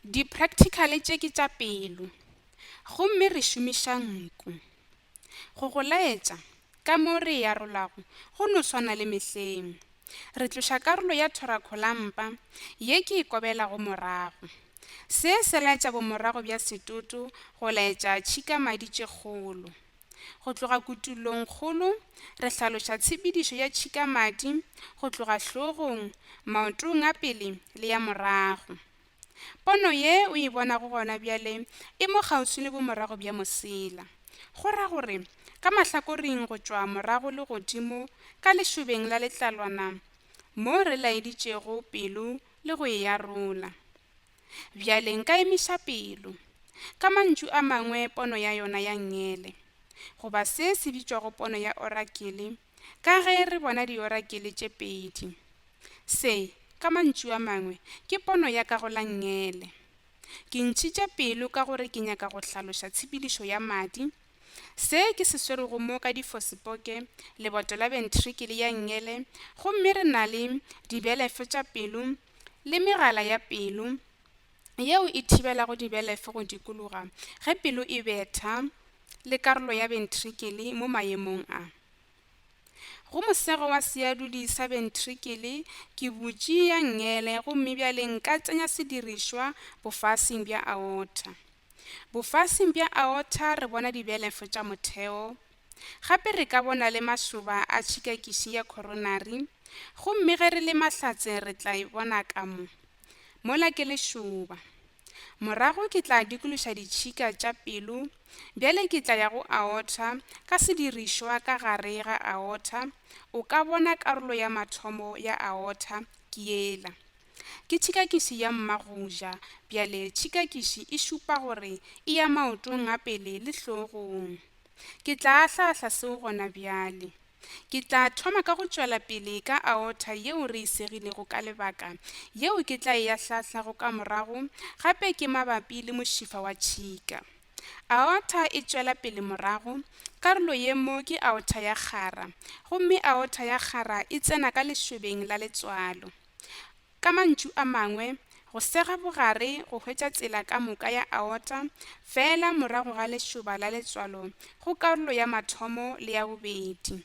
Di-practical tše ke tša pelo, gomme re šomiša nku. Go go laetša, ka mo re e arolago go no swana le mehleng. Re tloša karolo ya thorakholampa ye ke e kobelago morago. Se se laetša bomorago bja setoto go laetša tšhikamadi tše kgolo. Go tloga kutullongkgolo, re hlaloša tshepedišo ya tšhikamadi go tloga hlogong, maotong a pele le ya morago. Pono ye o e bonago gona bjale e mo kgauswi le bomorago bja mosela, go ra gore ka mahlakoring go tšwa morago le godimo ka lešobeng la letlalwana mo re laeditšego pelo le go e arola. Bjale nka emiša pelo. Ka mantšu a mangwe pono ya yona ya ngele, goba se se bitšwago pono ya orakele, ka ge re bona diorakele tše pedi. Se, ka mantšu a mangwe, ke pono ya ka go la ngele. Ke ntšhitše pelo ka gore ke nyaka go hlaloša tshepedišo ya madi, Se ke se swerego mo ka difosipoke, leboto la bentrikele ya ngele, gomme re na le dibelefo tša pelo le megala ya pelo yeo e thibelago dibelefo go dikologa ge pelo e betha le karolo ya bentrikele mo maemong a go mosego wa seadudi sa bentrikele ke butši ya ngele gomme bjale nka tsenya sedirišwa bofasing bja aorta. Bofasing bja aorta re bona dibelefo tša motheo. Gape re ka bona le mašoba a tšhikakiši ya coronary, gomme ge re le mahlatse re tla e bona ka mo. Mola ke lešoba. Morago ke tla dikološa ditšhika tša pelo, bjale ke tla ya go aorta ka sedirišwa ka gare ga aorta, o ka bona karolo ya mathomo ya aorta ke yela. Ke tšhikakiši ya mmagoja. Bjale tšhikakiši e šupa gore e ya maotong a pele le hlogong. Ke tla ahla-ahla seo gona bjale. Ke tla thoma ka go tšwela pele ka aorta yeo re e segilego ka lebaka, yeo ke tla e ahla-ahlago ka morago, gape ke mabapi le mošifa wa tšhika. Aorta e tšwela pele morago, karolo ye mo ke aorta ya kgara, gomme aorta ya kgara e tsena ka lešobeng la letswalo. Ka mantšu a mangwe, go sega bogare go hwetša tsela ka moka ya aorta feela morago ga lešoba la letswalo go karolo ya mathomo le ya bobedi.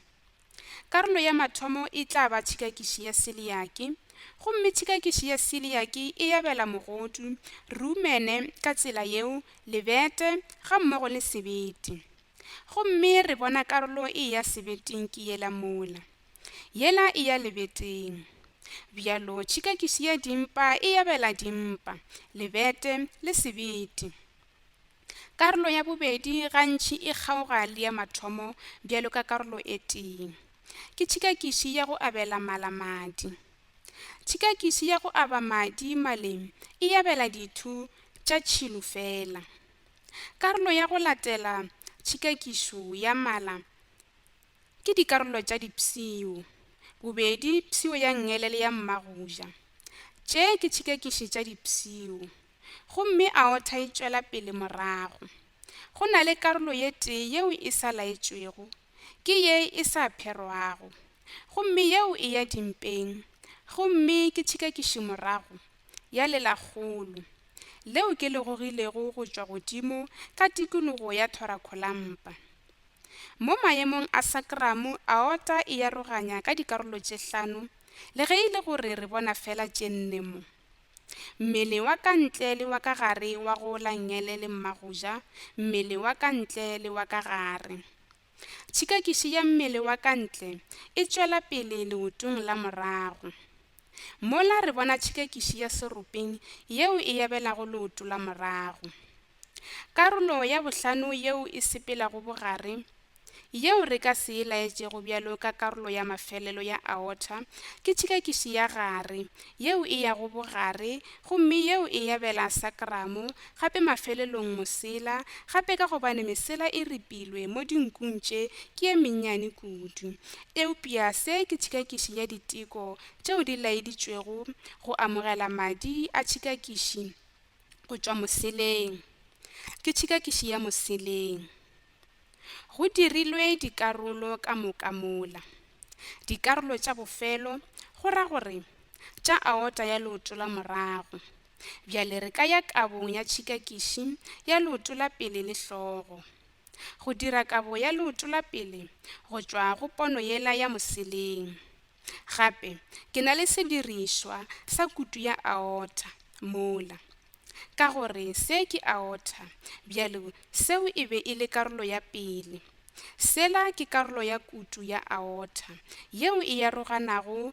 Karolo ya mathomo e tla ba tšhikakiši ya seliaki, gomme tšhikakiši ya seliaki e yabela mogodu, rumene, ka tsela yeo, lebete, ga mmogo le sebete. Gomme re bona karolo e ya sebeting ke yela mola. Yela e ya lebeteng. Bjalo tšhikakiši ya dimpa e yabela dimpa, lebete le sebete. Karolo ya bobedi gantši e kgaoga le ya mathomo bjalo ka karolo e tee. Ke tšhikakiši ya go abela mala madi. Tšhikakiši ya go aba madi maleng e yabela dithu tša tšhilo fela. Karolo ya go latela tšhikakišo ya mala Ke dikarolo tša dipshio, bobedi phsio ya ngele le ya mmagoja. Tše ke tšhikekiši tša dipshio. Gomme aorta e tšwela pele morago. Go na le karolo ye tee yeo e sa laetšwego, ke ye e sa pherwago. Gomme yeo e ya dimpeng, gomme ke tšhikekiši morago, ya lelakgolo, leo ke le gogilego go tšwa godimo ka tikologo ya thorakholampa. Mo maemong a sakramo, aorta e aroganya ka dikarolo tše hlano, le ge e le gore re bona feela tše nne mo. Mmele wa ka ntle le wa ka gare wa go langele le mmagoja, mmele wa ka ntle le wa ka gare. Tšhikakiši ya mmele wa ka ntle e tšwela pele leotong la morago. Mola re bona tšhikekiši ya seropeng yeo e yabelago leoto la morago. Karolo ya bohlano yeo e sepelago bogare, yeo re ka se e laetšego bjalo ka karolo ya mafelelo ya aorta, ke tšhikekiši ya gare, yeo e yago bogare gomme yeo e yabela sakramo, gape mafelelong mosela, gape ka gobane mesela e ripilwe mo dinkung tše ke ye mennyane kudu. Eupša se ke tšhikakiši ya diteko tšeo di laeditšwego go amogela madi a tšhikakiši go tšwa moseleng. Ke tšhikakiši ya moseleng. Go dirilwe dikarolo ka moka mola. Dikarolo tša bofelo, go ra gore, tša aota ya leoto la morago. Bjale re ka ya kabong ya tšhikakiši ya leoto la pele le hlogo. go dira kabo ya leoto la pele go tšwa go pono yela ya moseleng. Gape ke na le sedirišwa sa kutu ya aorta mola. Ka gore se ke aorta, bjale seo e be e le karolo ya pele. Sela ke karolo ya kutu ya aorta yeo e aroganago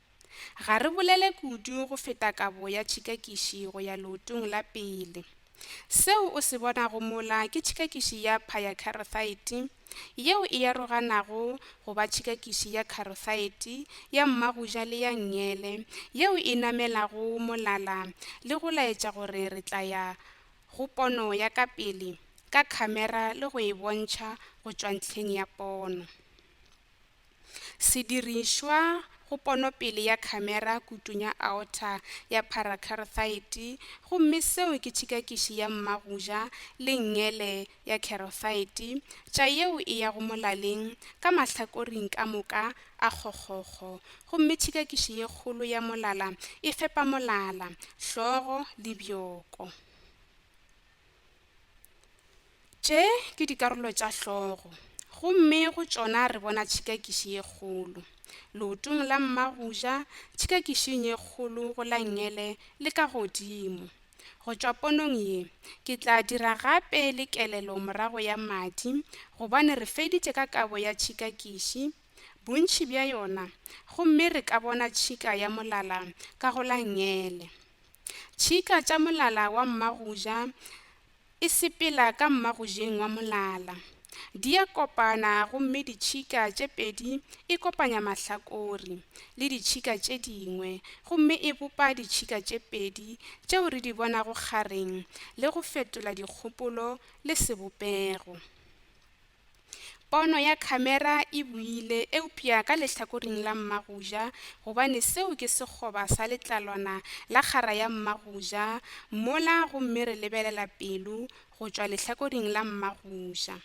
Ga re bolele kudu go feta kabo ya tšhikakiši go ya leotong la pele. Seo o se bonago mola ke tšhikakiši ya phayakarothaete yeo e aroganago go ba tšhikakiši ya karothaete ya mmagoja le ya nngele yeo e namelago molala le go laetša gore re tla ya go pono ya ka pele ka khamera le go e bontšha go tšwa ntlheng ya pono. Sedirišwa go ponopele ya khamera kutong ya aorta ya parakarothaete gomme seo ke tšhikakiši ya mmagoja le ngele ya karothaete tša yeo e yago molaleng ka mahlakoring ka moka a kgokgokgo gomme tšhikakiši ye kgolo ya molala e fepa molala, hlogo le bjoko. Tše ke dikarolo tša hlogo, gomme go tšona re bona tšhikakiši ye kgolo. Leotong la mma go ja, tšhikakišing ye kgolo go la ngele le ka godimo. Go tšwa ponong ye, ke tla dira gape le kelelo morago ya madi, gobane re feditše ka kabo ya tšhikakiši, bontši bja yona, gomme re ka bona tšhika ya molala ka go la ngele. Tšhika tša molala wa mma go ja E sepela ka mmagojeng wa molala. Di a kopana gomme ditšhika tše pedi e kopanya mahlakori le ditšhika tše dingwe gomme e bopa ditšhika tše pedi tšeo re di bonago kgareng le go fetola dikgopolo le sebopego. Pono ya khamera e buile, eupša ka lehlakoring la mmagoja, gobane seo ke sekgoba sa letlalwana la kgara ya mmagoja mola gomme re lebelela pelo go tšwa lehlakoring la mmagoja.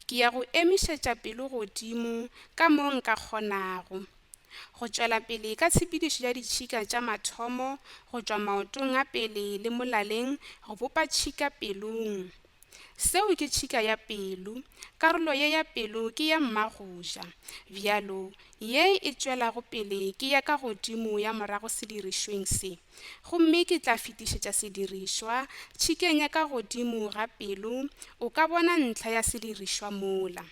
Ke ya go emišetša pelo godimo ka mo nka kgonago, go tšwela pele ka tshepedišo ya ditšhika tša mathomo go tšwa maotong a pele le molaleng go bopa tšhika pelong. Seo ke tšhika ya pelo, karolo ye ya pelo ke ya mmagoja. Bjalo, ye e tšwelago pele ke ya ka godimo ya morago sedirišweng se. Gomme ke tla fetišetša sedirišwa tšhikeng ya ka godimo ga pelo, o ka bona ntlha ya sedirišwa mola.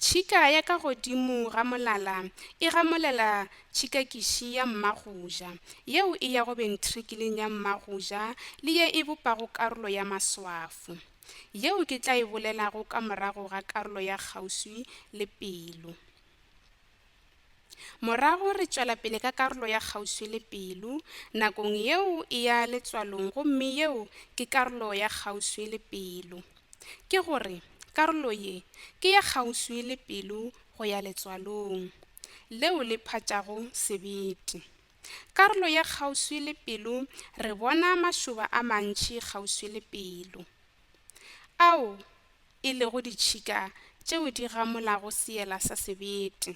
Tšhika ya ka godimo ga molala e gamolela tšhikakiši ya mmagoja, yeo e yago bentrikileng ya mmagoja le ye e bopago karolo ya maswafo, yeo ke tla e bolelago ka morago ga karolo ya kgauswi le pelo. Morago re tšwela pele ka karolo ya kgauswi le pelo. Nakong yeo e ya letswalong gomme yeo ke karolo ya kgauswi le pelo. Ke go re, karolo ye ke ya kgauswi le pelo go ya letswalong, leo le phatšago sebete. Karolo ya kgauswi le pelo re bona mašoba a mantši kgauswi le pelo. ao e lego ditšhika tšeo di gamolago seela sa sebete.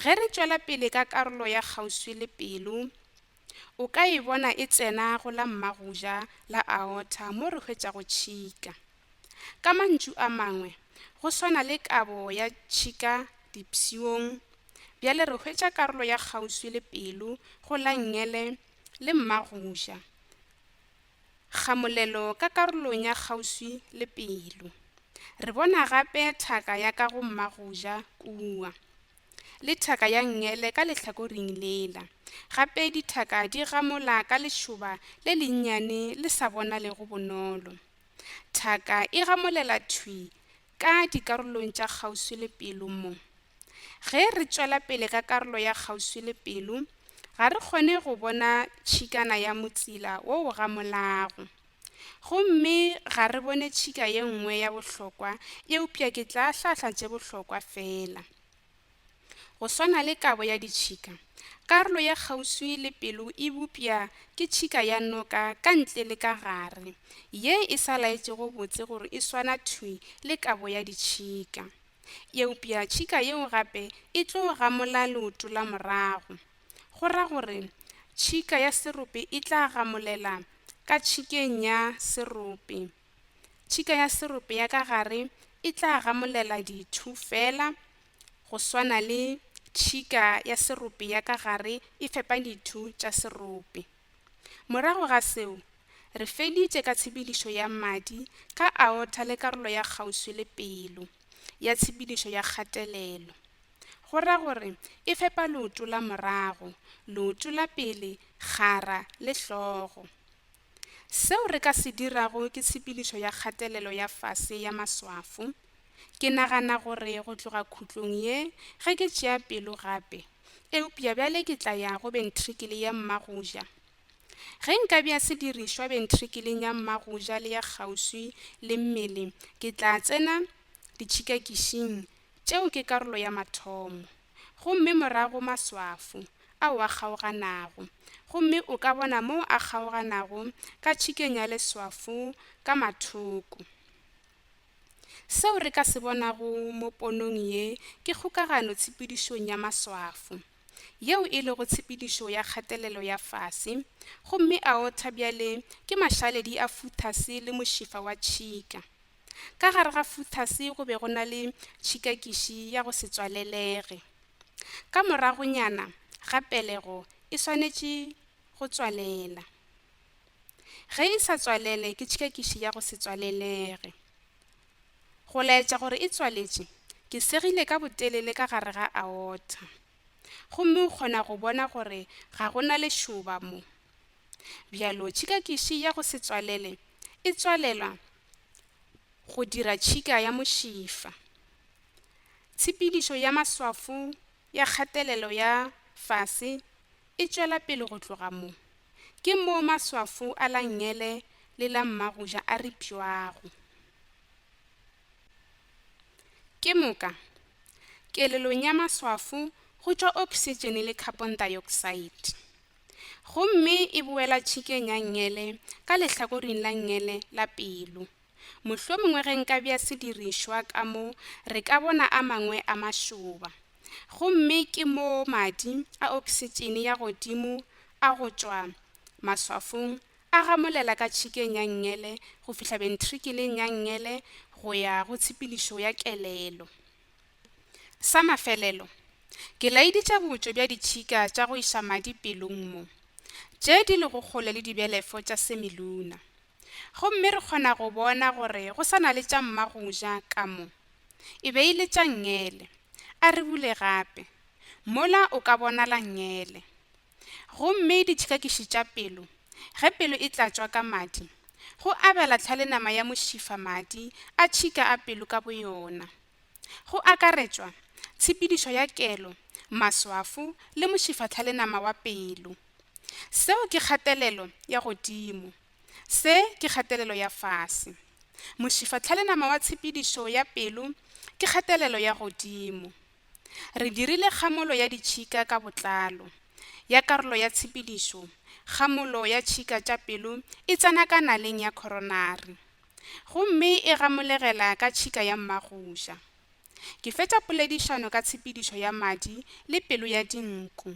Ge re tšwela pele ka karolo ya kgauswi le pelo, o ka e bona e tsena go la mmagoja la aorta mo re hwetšago tšhika. Ka mantšu a mangwe, go swana le kabo ya tšhika dipshiong, bjale re hwetša karolo ya kgauswi le pelo go la ngele le mmagoja. Kgamolelo ka karolong ya kgauswi le pelo. Re bona gape thaka ya ka go mmagoja kua, le thaka ya ngele ka lehlakoring lela. Gape dithaka di gamola ka lešoba le lennyane le sa bonalego bonolo. Thaka e gamolela thwi ka dikarolong tša kgauswi le pelo mo. Ge re tšwela pele ka karolo ya kgauswi le pelo, ga re kgone go bona tšhikana ya motsila wo o gamolago. Gomme ga re bone tšhika ye nngwe ya bohlokwa, eupša ke tla hlahla tše bohlokwa feela. Go swana le kabo ya ditšhika, karolo ye kgauswi le pelo e bopša ke tšhika ya noka ka ntle le ka gare, ye e sa laetšego botse gore e swana thwi le kabo ya ditšhika. Eupša tšhika yeo gape e tlo gamola leoto la morago, go ra gore tšhika ya serope e tla gamolela ka tšhikeng ya serope. Tšhika ya serope ya ka gare e tla gamolela dithu feela go swana le tšhika ya serope ya ka gare e fepa dithu tša serope. Morago ga seo, re feditše ka tshepedišo ya madi ka aorta le karolo ya kgauswi le pelo ya tshepedišo ya kgatelelo, go ra gore e fepa leoto la morago, leoto la pele, kgara le hlogo. Seo re ka se dirago ke tshepedišo ya kgatelelo ya fase ya maswafo. Ke nagana gore go tloga khutlong ye, ge ke tšea pelo gape, eupša bjale ke tla ya go bentrikele ya mmagoja. Ge nka bea sedirišwa bentrikeleng ya mmagoja le ya kgauswi le mmele, ke tla tsena ditšhikakišing tšeo ke karolo ya mathomo. gomme morago maswafo, ao a kgaoganago, gomme o ka bona moo a kgaoganago ka tšhikeng ya leswafo ka mathoko. Seo re ka se bonago mo ponong ye ke kgokagano tshepedišong ya maswafo, yeo e lego tshepedišo ya kgatelelo ya fase, gomme aorta bjale ke mašaledi a futhase le mošifa wa tšhika. Ka gare ga futhase go be go na le tšhikakiši ya go se tswalelege. Ka moragonyana ga pelego e swanetše go tswalela. Ge e sa tswalele ke tšhikakiši ya go se tswalelege. Go laetša gore e tswaletše, ke segile ka botelele ka gare ga aorta. Gomme o kgona go bona gore ga go na lešoba mo. Bjalo tšhikakiši ya go se tswalele e tswalela Go dira tšhika ya mošifa. Tshepedišo ya maswafo ya kgatelelo ya fase e tšwela pele go tloga mo. Ke moo maswafo a la ngele le la mmagoja a ripšwago. Ke moka, kelelong ya maswafo go tšwa oksitšene le khapontaeoksaete. gomme e boela tšhikeng ya ngele ka lehlakoring la ngele la pelo. Mohlomongwe ge nka bea sedirišwa ka mo re ka bona a mangwe a mašoba. Gomme ke moo madi a oksitšene ya godimo a go tšwa maswafong a gamolela ka tšhikeng ya ngele go fihla bentrikeleng ya ngele go ya go tshepedišo ya kelelo. Sa mafelelo, ke laeditša botšo bja ditšhika tša go iša madi pelong mo, tše di lego kgole le dibelefo tša semiluna. Gomme re kgona go bona gore go sa na le tša mma go ja ka mo. E be e le tša ngele. A re bule gape. Mola o ka bonala ngele. Gomme ditšhikakiši tša pelo, ge pelo e tlatšwa ka madi, go abela tlhale nama ya mošifa madi a tšhika a pelo ka boyona, go akaretšwa tshepedišo ya kelo, maswafo le mošifatlhale nama wa pelo. Seo ke kgatelelo ya godimo. Se ke kgatelelo ya fase. Mošifatlhale nama wa tshepedišo ya pelo ke kgatelelo ya godimo. Re dirile kgamolo ya ditšhika ka botlalo ya karolo ya tshepedišo, kgamolo ya tšhika tša pelo e tsena ka naleng ya coronary gomme e gamolegela ka tšhika ya mmagoša. Ke fetša poledišano ka tshepedišo ya madi le pelo ya dinku.